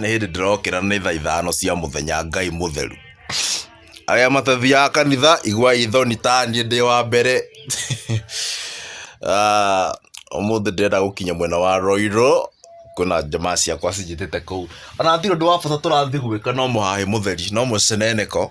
nĩ hĩndĩ ndĩrokĩra nĩ thaa ithano cia mũthenya ngai mũtheru arĩa matathiaga kanitha iguai thoni ta niĩ ndĩ wa mbere Ah, ũmũthĩ ndĩrenda gũkinya mwena wa roirũ kwĩna njamaa ciakwa cinjĩtĩte kũu ona ndirĩ ũndũ wa bata tũrathiĩ gwĩka no mũhahĩ mũtheri no mũceneneko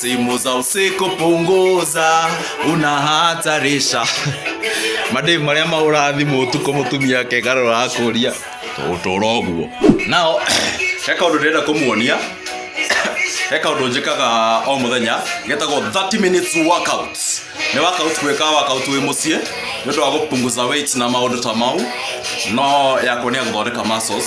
simu za usiku punguza unahatarisha mademu marĩa mahũraga thimũ ũtukũ mũtumia akegarũra akũria ũtũra ũguo nao he kaũndũ ndĩrenda kũmuonia he kaũndũ njĩkaga o mũthenya getagwo 30 minutes workout nĩ workout gwĩka workout wĩ mũciĩ nĩ ũndũ wa gũpunguza weight na maũndũ ta mau no yakwa nĩ ya gũthondeka muscles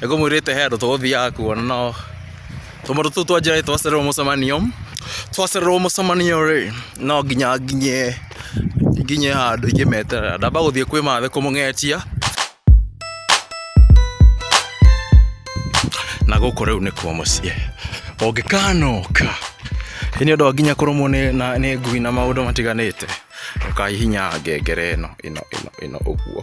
Nĩ kũmwĩrĩte he andũ tũgũthiaga kuona nao tũmũndũ tũu twa njĩra-rĩ twacererwo mũcemanio, twacererwo mũcemanio-rĩ no nginya nginye nginye handũ ingĩmeterera, ndamba gũthiĩ kwĩ mathe kũmũng'etia na gũkũ rĩu nĩkuo mũciĩ ũngĩkanoka ĩ nĩ ũndũ wa nginya kũrũmwo nĩ na nĩ ngui na maũndũ matiganĩte ndũkahihinyaga ngengere ĩno ĩno ĩno ĩno ũguo.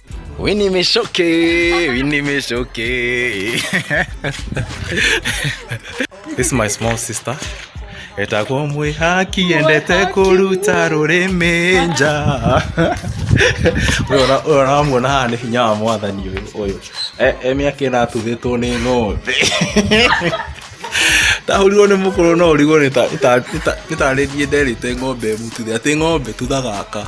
Uy, ni me choqué, uy, ni me choqué. This is my small sister. Etakuwa mwe haki endete kuruta rurimi nja. Uyu ona- uyu onamuona haha nĩ hinya wa mwathani ũyũ ũyũ. E- e mĩaka ĩno atuthĩtwo nĩ ng'ombe. Ndahũrirwo nĩ mũkũrũ no ũrigwo nĩ ta- nĩ ta- nĩ ta- nĩ tarĩrie nderĩte ng'ombe ĩmũtuthe atĩ ng'ombe tutha gaka.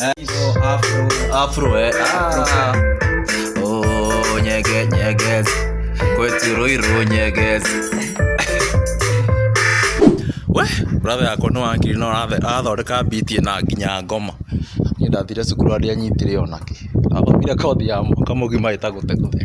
Eh, oh, afro. Afro, eh. Ah. Oh, nyege, nyege. Kwetu Ruiru, nyege. we brother yakwa no akiri no athondeka biti na nginya ngoma ni ndathire cukuru aria nyitire onake athomire kothi ya mwaka mugima itagute guthe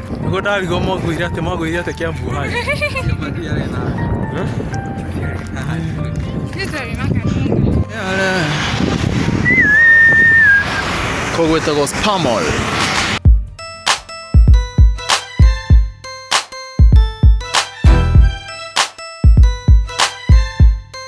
Nĩguo ndarigwo mwagwĩire atĩ mwagwĩire atĩ Kiambu hai. Koguo ĩtagwo Spamol.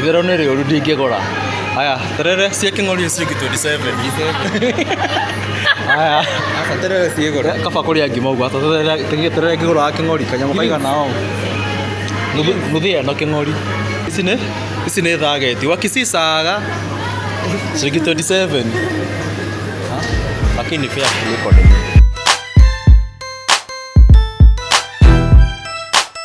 Igero nĩ rĩũru ndingĩgũra. Aya, terere cia kĩng'ori nĩ ciringi 27. Aya, Aca terere ciĩ goro. kaba kũrĩa ngima ũguo. Ata terere tege- terere ngĩgũraga kĩng'ori kanyamũ kaigana ũũ. Nuthu nuthu ĩno kĩng'ori. Ici nĩ ici nĩ thageti. Wakisisaga ciringi 27. Ha? Lakini fair kuliko ni.